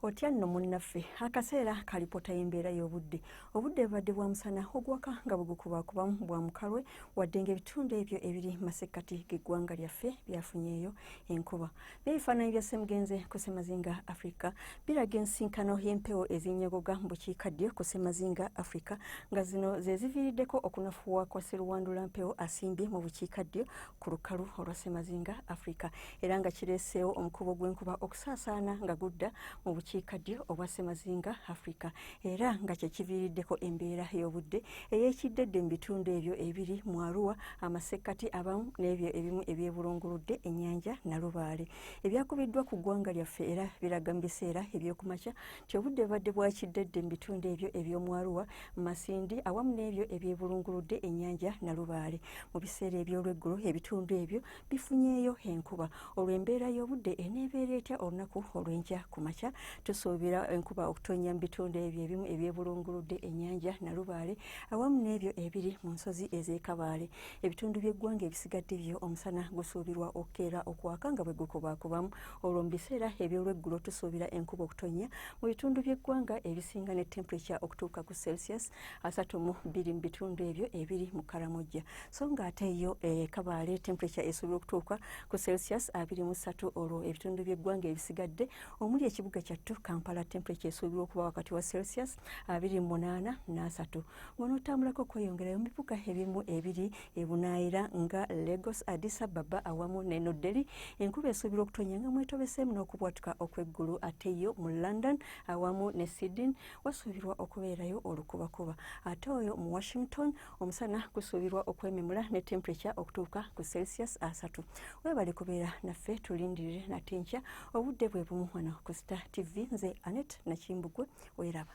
otya nno munnaffe akaseera kalipota y'embeera y'obudde obudde bubadde bwa musana ogwaka nga bwegukubakubamu bwa mukalwe wadde nga ebitundu ebyo ebiri masekkati g'eggwanga lyaffe byafunyeeyo enkuba n'ebifaananyi bya ssemugenze ku ssemazinga afrika biraga ensinkano y'empewo ezinyogoga mu bukiikaddyo ku ssemazinga afrika nga zino ze ziviiriddeko okunafuwa kwa seruwandula mpewo asimbye mu bukiikaddyo ku lukalu olwa ssemazinga afrika era nga kireeseewo omukubo gw'enkuba okusaasaana nga gudda mu bukiika ddyo obwa ssemazinga africa era nga kyekiviiriddeko embeera y'obudde ey'ekiddedde mu bitundu ebyo ebiri mu aruwa amasekkati abamu n'ebyo ebimu ebyebulunguludde ennyanja nalubaale ebyakubiddwa ku ggwanga lyaffe era biraga mu biseera ebyokumakya nti obudde bubadde bwakiddedde mu bitundu ebyo eby'omu aruwa masindi awamu n'ebyo ebyebulunguludde ennyanja nalubaale mu biseera eby'olweggulo ebitundu ebyo bifunyeeyo enkuba olwo embeera y'obudde eneebeera etya olunaku olw'enkya ku makya tusuubira enkuba okutonnya mu bitundu ebyo ebimu ebyebulunguludde ennyanja nalubaale awamu n'ebyo ebiri mu nsozi ez'ekabaale ebitundu by'eggwanga ebisigadde byo omusana gusuubirwa okukeera okwaka nga bwe gukubaakubamu olwo mu biseera eby'olweggulo tusuubira enkuba okutonnya mu bitundu by'eggwanga ebisinga ne temperature okutuuka ku celsius asatu mu bbiri mu bitundu ebyo ebiri mu karamojja so nga ate yo e eh, kabaale temperature esobola okutuuka ku celsius abiri mu ssatu olwo ebitundu by'eggwanga ebisigadde omuli ekibuga kyattu kampala temperature esuubirwa okuba wakati wa celsius abiri mu munaana n'asatu ng'onootambulako okweyongerayo mu bibuga ebimu ebiri ebunaayira nga lagos addis ababa awamu ne new delhi enkuba esuubirwa okutonya nga mwetobeseemu n'okubwatuka okw'eggulu ate yo mu london awamu ne sydney wasuubirwa okubeerayo olukubakuba ate oyo mu washington omusana gusuubirwa okwememula ne temperature okutuuka ku celsius asatu webale kubeera naffe tulindirire nate nkya obudde bwe bumu wano ku star tv nze anet nakimbugwe weraba